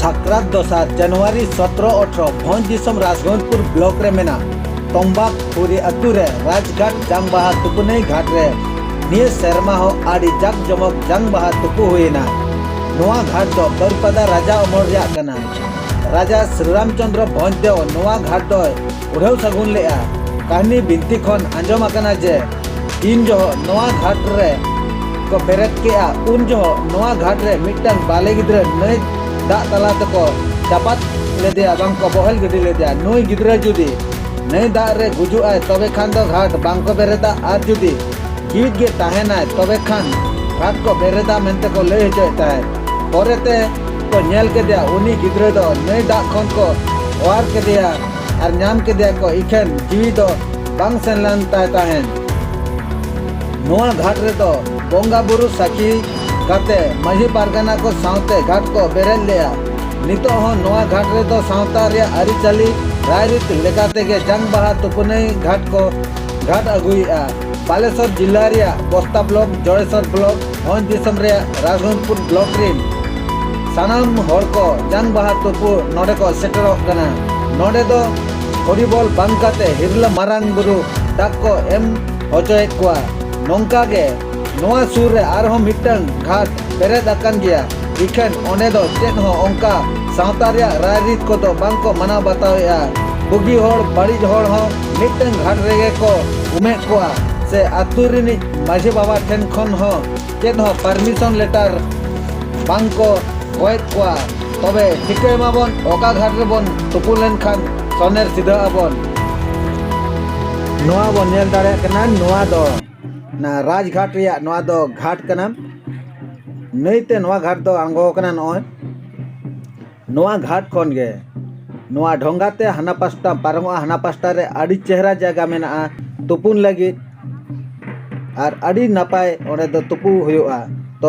ᱥᱟᱠᱨᱟᱛ ᱫᱚᱥᱟᱨ ᱡᱟᱱᱩᱣᱟᱨᱤ ᱥᱚᱛᱨᱚ ᱚᱴᱷᱨᱚ ᱵᱷᱚᱸᱡᱽ ᱫᱤᱥᱚᱢ ᱨᱟᱡᱽᱜᱚᱸᱡᱽᱯᱩᱨ ᱵᱞᱚᱠ ᱨᱮ ᱢᱮᱱᱟᱜ ᱛᱚᱢᱵᱟᱠ ᱯᱩᱨᱤ ᱟᱹᱛᱩ ᱨᱮ ᱨᱟᱡᱽᱜᱷᱟᱴ ᱡᱟᱝ ᱵᱟᱦᱟ ᱛᱩᱯᱩᱱᱟᱹᱭ ᱜᱷᱟᱴ ᱨᱮ ᱱᱤᱭᱟᱹ ᱥᱮᱨᱢᱟ ᱦᱚᱸ ᱟᱹᱰᱤ ᱡᱟᱠ ᱡᱚᱢᱚᱠ ᱡᱟᱝ ᱵᱟᱦᱟ ᱛᱩᱯᱩ ᱦᱩᱭᱮᱱᱟ ᱱᱚᱣᱟ ᱜᱷᱟᱴ ᱫᱚ ᱵᱟᱹᱨᱯᱟᱫᱟ ᱨᱟᱡᱟ ᱚᱢᱚᱞ ᱨᱮᱭᱟᱜ ᱠᱟᱱᱟ ᱨᱟᱡᱟ ᱥᱨᱤᱨᱟᱢᱪᱚᱱᱫᱨᱚ ᱵᱷᱚᱸᱡᱽ ᱫᱮᱣ ᱱᱚᱣᱟ ᱜᱷᱟᱴ ᱫᱚᱭ ᱩᱰᱷᱟᱹᱣ ᱥᱟᱹᱜᱩᱱ ᱞᱮᱫᱼᱟ ᱠᱟᱹᱦᱱᱤ ᱵᱤᱱᱛᱤ ᱠᱷᱚᱱ ᱟᱸᱡᱚᱢ ᱟᱠᱟᱱᱟ ᱡᱮ ᱛᱤᱱ ᱡᱚᱦᱚᱜ ᱱᱚᱣᱟ ᱜᱷᱟᱴ ᱨᱮ ᱠᱚ ᱵᱮᱨᱮᱫ ᱠᱮᱫᱼᱟ ᱩᱱ ᱡᱚᱦᱚᱜ ᱱᱚᱣᱟ ᱜᱷᱟᱴ ᱨᱮ ᱢᱤᱫᱴᱟᱝ ᱵᱟᱞᱮ ᱜᱤᱫᱽᱨᱟᱹ ᱱᱟᱹᱭ ᱫᱟᱜ ᱛᱟᱞᱟ ᱛᱮᱠᱚ ᱪᱟᱯᱟᱫ ᱞᱮᱫᱮᱭᱟ ᱵᱟᱝ ᱠᱚ ᱵᱚᱦᱮᱞ ᱜᱤᱰᱤ ᱞᱮᱫᱮᱭᱟ ᱱᱩᱭ ᱜᱤᱫᱽᱨᱟᱹ ᱡᱩᱫᱤ ᱱᱟᱹᱭ ᱫᱟᱜ ᱨᱮ ᱜᱩᱡᱩᱜ ᱟᱭ ᱛᱚᱵᱮ ᱠᱷᱟᱱ ᱫᱚ ᱜᱷᱟᱴ ᱵᱟᱝ ᱠᱚ ᱵᱮᱨᱮᱫᱟ ᱟᱨ ᱡᱩᱫᱤ ᱡᱤᱣᱤᱫ ᱜᱮ ᱛᱟᱦᱮᱱᱟᱭ ᱛᱚᱵᱮ ᱠᱷᱟᱱ ᱜᱷᱟᱴ ᱠᱚ ᱵᱮᱨᱮᱫᱟ ᱢᱮᱱᱛᱮ ᱠᱚ ᱞᱟᱹᱭ ᱦᱚᱪᱚᱭᱮᱫ ᱛᱟᱦᱮᱸᱫ ᱯᱚᱨᱮᱛᱮ ᱠᱚ ᱧᱮᱞ ᱠᱮᱫᱮᱭᱟ ᱩᱱᱤ ᱜᱤᱫᱽᱨᱟᱹ ᱫᱚ ᱱᱟᱹᱭ ᱫᱟᱜ ᱠᱷᱚᱱ ᱠᱚ ᱚᱣᱟᱨ ᱠᱮᱫᱮᱭᱟ ᱟᱨ ᱧᱟᱢ ᱠᱮᱫᱮᱭᱟ ᱠᱚ ᱤᱠᱷᱟᱹᱱ ᱡᱤᱣᱤ ᱫᱚ ᱵᱟᱝ ᱥᱮᱱ ᱞᱮᱱ ᱛᱟᱭ ᱛᱟᱦᱮᱱ ᱱᱚᱣᱟ ᱜᱷᱟᱴ ᱨᱮᱫᱚ ᱵᱚᱸᱜᱟ ᱵᱩᱨᱩ ᱥᱟᱹᱠᱷᱤ ᱠᱟᱛᱮ ᱢᱟᱹᱡᱷᱤ ᱯᱟᱨᱜᱟᱱᱟ ᱠᱚ ᱥᱟᱶᱛᱮ ᱜᱷᱟᱴ ᱠᱚ ᱵᱮᱨᱮᱫ ᱞᱮᱫᱼᱟ ᱱᱤᱛᱚᱜ ᱦᱚᱸ ᱱᱚᱣᱟ ᱜᱷᱟᱴ ᱨᱮᱫᱚ ᱥᱟᱶᱛᱟ ᱨᱮᱭᱟᱜ ᱟᱹᱨᱤᱪᱟᱹᱞᱤ ᱨᱟᱭᱨᱤᱛ ᱞᱮᱠᱟᱛᱮ ᱜᱮ ᱡᱟᱝ ᱵᱟᱦᱟ ᱛᱩᱯᱩᱱᱟᱹᱭ ᱜᱷᱟᱴ ᱠᱚ ᱜᱷᱟᱴ ᱟᱹᱜᱩᱭᱮᱫᱼᱟ ᱵᱟᱞᱮᱥᱚᱨ ᱡᱤᱞᱟ ᱨᱮᱭᱟᱜ ᱵᱚᱥᱛᱟ ᱵᱞᱚᱠ ᱡᱚᱲᱮᱥᱚᱨ ᱵᱞᱚᱠ ᱵᱷᱚᱸᱡᱽ ᱫᱤᱥᱚᱢ ᱨᱮ ᱨᱟᱜᱷᱚᱱᱯᱩᱨ ᱵᱞᱚᱠ ᱨᱮᱱ ᱥᱟᱱᱟᱢ ᱦᱚᱲ ᱠᱚ ᱡᱟᱝ ᱵᱟᱦᱟ ᱛᱩᱯᱩ ᱱᱚᱰᱮ ᱠᱚ ᱥᱮᱴᱮᱨᱚᱜ ᱠᱟᱱᱟ ᱱᱚᱰᱮ ᱫᱚ ᱦᱚᱨᱤᱵᱚᱞ ᱵᱟᱝ ᱠᱟᱛᱮ ᱦᱤᱨᱞᱟᱹ ᱢᱟᱨᱟᱝ ᱵᱩᱨᱩ ᱫᱟᱜ ᱠᱚ ᱮᱢ ᱦᱚᱪᱚᱭᱮᱫ ᱠᱚᱣᱟ ᱱᱚᱝᱠᱟ ᱜᱮ ᱱᱚᱣᱟ ᱥᱩᱨ ᱨᱮ ᱟᱨᱦᱚᱸ ᱢᱤᱫᱴᱟᱝ ᱜᱷᱟᱴ ᱯᱮᱨᱮᱫ ᱟᱠᱟᱱ ᱜᱮᱭᱟ ᱤᱠᱷᱟᱹᱱ ᱚᱸᱰᱮ ᱫᱚ ᱪᱮᱫ ᱦᱚᱸ ᱚᱱᱠᱟ ᱥᱟᱶᱛᱟ ᱨᱮᱭᱟᱜ ᱨᱟᱭ ᱨᱤᱛ ᱠᱚᱫᱚ ᱵᱟᱝ ᱠᱚ ᱢᱟᱱᱟᱣ ᱵᱟᱛᱟᱣᱮᱫᱼᱟ ᱵᱩᱜᱤ ᱦᱚᱲ ᱵᱟᱹᱲᱤᱡ ᱦᱚᱲ ᱦᱚᱸ ᱢᱤᱫᱴᱟᱝ ᱜᱷᱟᱴ ᱨᱮᱜᱮ ᱠᱚ ᱩᱢᱮᱫ ᱠᱚᱣᱟ ᱥᱮ ᱟᱛᱳ ᱨᱤᱱᱤᱡ ᱢᱟᱹᱡᱷᱤ ᱵᱟᱵᱟ ᱴᱷᱮᱱ ᱠᱷᱚᱱ ᱦᱚᱸ ᱪᱮᱫ ᱦᱚᱸ ᱯᱟᱨᱢᱤᱥᱚᱱ ᱞᱮᱴᱟᱨ ᱵᱟᱝ ᱠᱚ ᱜᱚᱭᱮᱫ ᱠᱚᱣᱟ ᱛᱚᱵᱮ ᱴᱷᱤᱠᱟᱹᱭ ᱢᱟᱵᱚᱱ ᱚᱠᱟ ᱜᱷᱟᱴ ᱨᱮᱵᱚᱱ ᱛᱩᱯᱩ ᱞᱮᱱᱠᱷᱟᱱ ᱥᱚᱱᱮᱨ ᱥᱤᱫᱷᱟᱹ ᱟᱵᱚᱱ ᱱᱚᱣᱟ ᱵᱚᱱ ᱧᱮᱞ ᱫᱟᱲᱮᱭᱟᱜ ᱠᱟᱱᱟ ᱱᱚᱣᱟ ᱫᱚ ᱚᱱᱟ ᱨᱟᱡᱽᱜᱷᱟᱴ ᱨᱮᱭᱟᱜ ᱱᱚᱣᱟ ᱫᱚ ᱜᱷᱟᱴ ᱠᱟᱱᱟ ᱱᱟᱹᱭᱛᱮ ᱱᱚᱣᱟ ᱜᱷᱟᱴ ᱫᱚ ᱟᱬᱜᱚ ᱟᱠᱟᱱᱟ ᱱᱚᱜᱼᱚᱭ ᱱᱚᱣᱟ ᱜᱷᱟᱴ ᱠᱷᱚᱱ ᱜᱮ ᱱᱚᱣᱟ ᱰᱷᱚᱸᱜᱟ ᱛᱮ ᱦᱟᱱᱟ ᱯᱟᱥᱴᱟ ᱯᱟᱨᱚᱢᱚᱜᱼᱟ ᱦᱟᱱᱟ ᱯᱟᱥᱴᱟ ᱨᱮ ᱟᱹᱰᱤ ᱪᱮᱦᱨᱟ ᱡᱟᱭᱜᱟ ᱢᱮᱱᱟᱜᱼᱟ ᱛᱩᱯᱩᱱ ᱞᱟᱹᱜᱤᱫ ᱟᱨ ᱟᱹᱰᱤ ᱱᱟᱯᱟᱭ ᱚᱸᱰᱮ ᱫᱚ ᱛᱩᱯᱩ ᱦᱩᱭᱩᱜᱼᱟ ᱛᱚ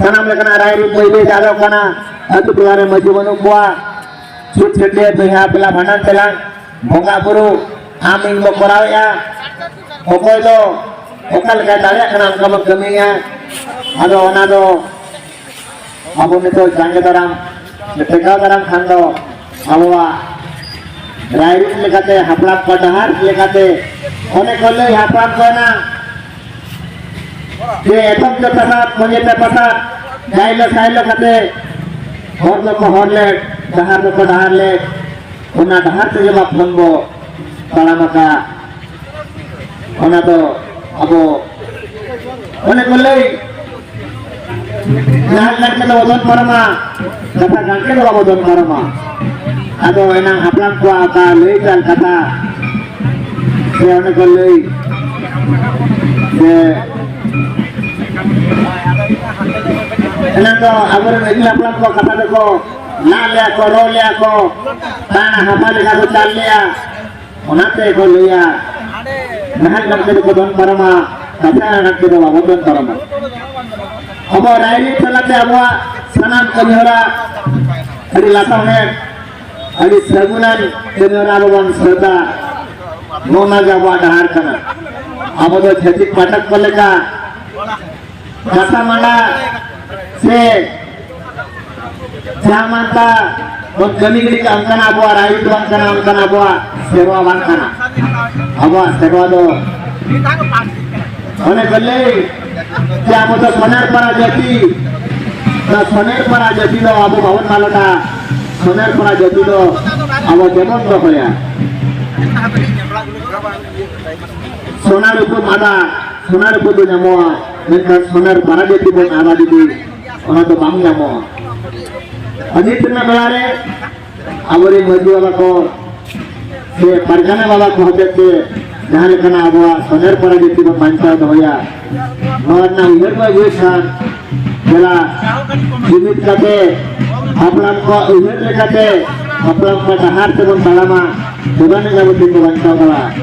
ᱥᱟᱱᱟᱢ ᱞᱮᱠᱟᱱᱟᱜ ᱨᱟᱭᱨᱤᱛ ᱵᱟᱹᱭ ᱵᱟᱹᱭ ᱟᱫᱚᱜ ᱠᱟᱱᱟ ᱟᱹᱛᱩ ᱴᱚᱞᱟ ᱨᱮ ᱢᱟᱹᱡᱷᱤ ᱵᱟᱹᱱᱩᱜ ᱠᱚᱣᱟ ᱪᱷᱩᱴ ᱪᱷᱟᱹᱴᱭᱟᱹ ᱵᱚᱭᱦᱟ ᱯᱮᱞᱟ ᱵᱷᱟᱸᱰᱟᱱ ᱛᱮᱞᱟᱝ ᱵᱚᱸᱜᱟ ᱵᱩᱨᱩ ᱟᱢ ᱤᱧ ᱵᱚ ᱠᱚᱨᱟᱣᱮᱫᱼᱟ ᱚᱠᱚᱭ ᱫᱚ ᱚᱠᱟ ᱞᱮᱠᱟᱭ ᱫᱟᱲᱮᱭᱟᱜ ᱠᱟᱱᱟ ᱚᱱᱠᱟ ᱵᱚ ᱠᱟᱹᱢᱤᱭᱟ ᱟᱫᱚ ᱚᱱᱟ ᱫᱚ ᱟᱵᱚ ᱱᱤᱛᱚᱜ ᱡᱟᱸᱜᱮ ᱫᱟᱨᱟᱢ ᱴᱮᱠᱟᱣ ᱫᱟᱨᱟᱢ ᱠᱷᱟᱱ ᱫᱚ ᱟᱵᱚᱣᱟᱜ ᱨᱟᱭᱨᱤᱛ ᱞᱮᱠᱟᱛᱮ ᱦᱟᱯᱲᱟᱢ ᱠᱚ ᱰᱟᱦᱟᱨ ᱞᱮᱠᱟᱛᱮ ᱚᱱᱮ ᱠᱚ ᱞᱟᱹᱭ ᱦᱟᱯᱲᱟᱢ ᱠᱚ ᱮᱱᱟ ᱡᱮ ᱮᱛᱚᱢ ᱡᱚ ᱯᱟᱥᱟᱫ ᱢᱚᱡᱮ ᱯᱮ ᱯᱟᱥᱟᱫ ᱡᱟᱭᱞᱚ ᱥᱟᱭᱞᱚ ᱠᱟᱛᱮ ᱦᱚᱲ ᱫᱚᱠᱚ ᱦᱚᱲ ᱞᱮᱫ ᱰᱟᱦᱟᱨ ᱫᱚᱠᱚ ᱰᱟᱦᱟᱨ ᱞᱮᱫ ᱚᱱᱟ ᱰᱟᱦᱟᱨ ᱛᱮᱜᱮ ᱵᱟᱯᱞᱚᱱ ᱵᱚ ᱛᱟᱲᱟᱢ ᱟᱠᱟᱫ ᱚᱱᱟ ᱫᱚ ᱟᱵᱚ ᱚᱱᱮ ᱠᱚ ᱞᱟᱹᱭ ᱡᱟᱦᱟᱸ ᱜᱟᱱᱠᱮ ᱫᱚ ᱵᱚᱫᱚᱞ ᱯᱟᱨᱚᱢᱟ ᱠᱟᱛᱷᱟ ᱜᱟᱱᱠᱮ ᱫᱚ ᱵᱟᱵᱚ ᱵᱚᱫᱚᱞ ᱯᱟᱨᱚᱢᱟ ᱟᱫᱚ ᱮᱱᱟᱝ ᱦᱟᱯᱲᱟᱢ ᱠᱚᱣᱟᱜ ᱚᱠᱟ ᱞᱟᱹᱭ ᱠᱟᱱ ᱠᱟᱛᱷᱟ ᱥᱮ ᱚᱱᱮ ᱠᱚ ᱞᱟᱹᱭ ᱥᱮ ᱮᱱᱟᱝ ᱫᱚ ᱟᱵᱚᱨᱮᱱ ᱟᱹᱜᱤᱞ ᱦᱟᱯᱲᱟᱢ ᱠᱚᱣᱟᱜ ᱠᱟᱛᱷᱟ ᱫᱚᱠᱚ ᱞᱟᱜ ᱞᱮᱭᱟ ᱠᱚ ᱨᱚᱲ ᱞᱮᱭᱟ ᱠᱚ ᱛᱟᱦᱮᱱᱟ ᱦᱟᱯᱟ ᱞᱮᱠᱟ ᱠᱚ ᱪᱟᱞ ᱞᱮᱭᱟ ᱚᱱᱟᱛᱮ ᱠᱚ ᱞᱟᱹᱭᱟ ᱱᱟᱦᱟᱜ ᱜᱟᱛᱮ ᱫᱚᱠᱚ ᱫᱚᱱ ᱯᱟᱨᱚᱢᱟ ᱠᱟᱛᱷᱟ ᱜᱟᱛᱮ ᱫᱚ ᱵᱟᱵᱚ ᱫᱚᱱ ᱯᱟᱨᱚᱢᱟ ᱟᱵᱚ ᱨᱟᱭᱨᱤᱛ ᱛᱟᱞᱟᱛᱮ ᱟᱵᱚᱣᱟᱜ ᱥᱟᱱᱟᱢ ᱠᱟᱹᱢᱤᱦᱚᱨᱟ ᱟᱹᱰᱤ ᱞᱟᱥᱟᱣᱦᱮᱫ ᱟᱹᱰᱤ ᱥᱟᱹᱜᱩᱱᱟᱱ ᱠᱟᱹᱢᱤᱦᱚᱨᱟ ᱟᱵᱚ ᱵᱚᱱ ᱥᱟᱹᱛᱟ ᱱᱚᱣᱟ ᱜᱮ ᱟᱵᱚᱣᱟᱜ ᱰᱟᱦᱟᱨ ᱠᱟᱱᱟ ᱟᱵᱚ ᱫᱚ ᱪᱷᱟᱹᱛᱤᱠ ᱯᱟᱴᱷᱚᱠ ᱠᱚ ᱞᱮᱠᱟ ᱠᱟᱛᱷᱟ ᱢᱟᱱᱟ ᱥᱮ ᱡᱟᱦᱟᱸ ᱢᱟᱱᱛᱟ ᱵᱚᱱ ᱠᱟᱹᱢᱤ ᱜᱤᱰᱤ ᱠᱟᱜ ᱚᱱᱠᱟᱱᱟᱜ ᱟᱵᱚᱣᱟᱜ ᱨᱟᱭ ᱫᱚ ᱵᱟᱝ ᱠᱟᱱᱟ ᱚᱱᱠᱟᱱᱟᱜ ᱟᱵᱚᱣᱟᱜ ᱥᱮᱨᱣᱟ ᱵᱟᱝ ᱠᱟᱱᱟ ᱟᱵᱚᱣᱟᱜ ᱥᱮᱨᱣᱟ ᱫᱚ ᱚᱱᱮ ᱠᱚ ᱞᱟᱹᱭ ᱡᱮ ᱟᱵᱚ ᱫᱚ ᱥᱚᱱᱮᱨ ᱯᱟᱨᱟ ᱡᱟᱹᱛᱤ ᱫᱚ ᱥᱚᱱᱮᱨ ᱯᱟᱨᱟ ᱡᱟᱹᱛᱤ ᱫᱚ ᱟᱵᱚ ᱵᱟᱵᱚᱱ ᱢᱟᱞᱚᱴᱟ ᱥᱚᱱᱮᱨ ᱯᱟᱨᱟ ᱡᱟᱹᱛᱤ ᱫᱚ ᱟᱵᱚ ᱡᱮᱢᱚᱱ ᱫᱚᱦᱚᱭᱟ ᱥᱚᱱᱟᱨ ᱩᱯᱩ ᱢᱟᱫᱟ ᱥᱚᱱᱟᱨ ᱩᱯᱩ ᱫᱚ ᱧᱟᱢᱚᱜᱼᱟ ᱢᱮᱱᱠᱷᱟᱱ ᱥᱚᱱᱮᱨ ᱯᱟᱨᱟ ᱡᱟᱹᱛᱤ ᱵᱚᱱ ᱟᱵᱟᱫᱤ ᱚᱱᱟ ᱫᱚ ᱵᱟᱝ ᱧᱟᱢᱚᱜᱼᱟ ᱟᱨ ᱱᱤᱛ ᱨᱮᱱᱟᱜ ᱵᱮᱲᱟ ᱨᱮ ᱟᱵᱚᱨᱮᱱ ᱢᱟᱹᱡᱷᱤ ᱵᱟᱵᱟ ᱠᱚ ᱥᱮ ᱯᱟᱨᱜᱟᱱᱟ ᱵᱟᱵᱟ ᱠᱚ ᱦᱚᱛᱮ ᱛᱮ ᱡᱟᱦᱟᱸ ᱞᱮᱠᱟᱱᱟᱜ ᱟᱵᱚᱣᱟᱜ ᱥᱚᱱᱮᱨ ᱯᱟᱨᱟ ᱡᱟᱹᱛᱤ ᱵᱚᱱ ᱵᱟᱧᱪᱟᱣ ᱫᱚᱦᱚᱭᱟ ᱱᱚᱣᱟ ᱨᱮᱱᱟᱜ ᱩᱭᱦᱟᱹᱨ ᱵᱚᱱ ᱟᱹᱜᱩᱭ ᱠᱷᱟᱱ ᱡᱮᱞᱟ ᱡᱩᱢᱤᱫ ᱠᱟᱛᱮ ᱦᱟᱯᱲᱟᱢ ᱠᱚᱣᱟᱜ ᱩᱭᱦᱟᱹᱨ ᱞᱮᱠᱟᱛᱮ ᱦᱟᱯᱲᱟᱢ ᱠᱚᱣᱟᱜ ᱰᱟᱦᱟᱨ ᱛᱮᱵᱚᱱ ᱛᱟᱲᱟᱢᱟ ᱛᱚᱵᱮ ᱟᱹᱱᱤᱡ ᱟᱵᱚ ᱫᱤᱱ ᱵᱚᱱ ᱵᱟᱧᱪᱟᱣ ᱫᱟᱲᱮᱭᱟᱜᱼᱟ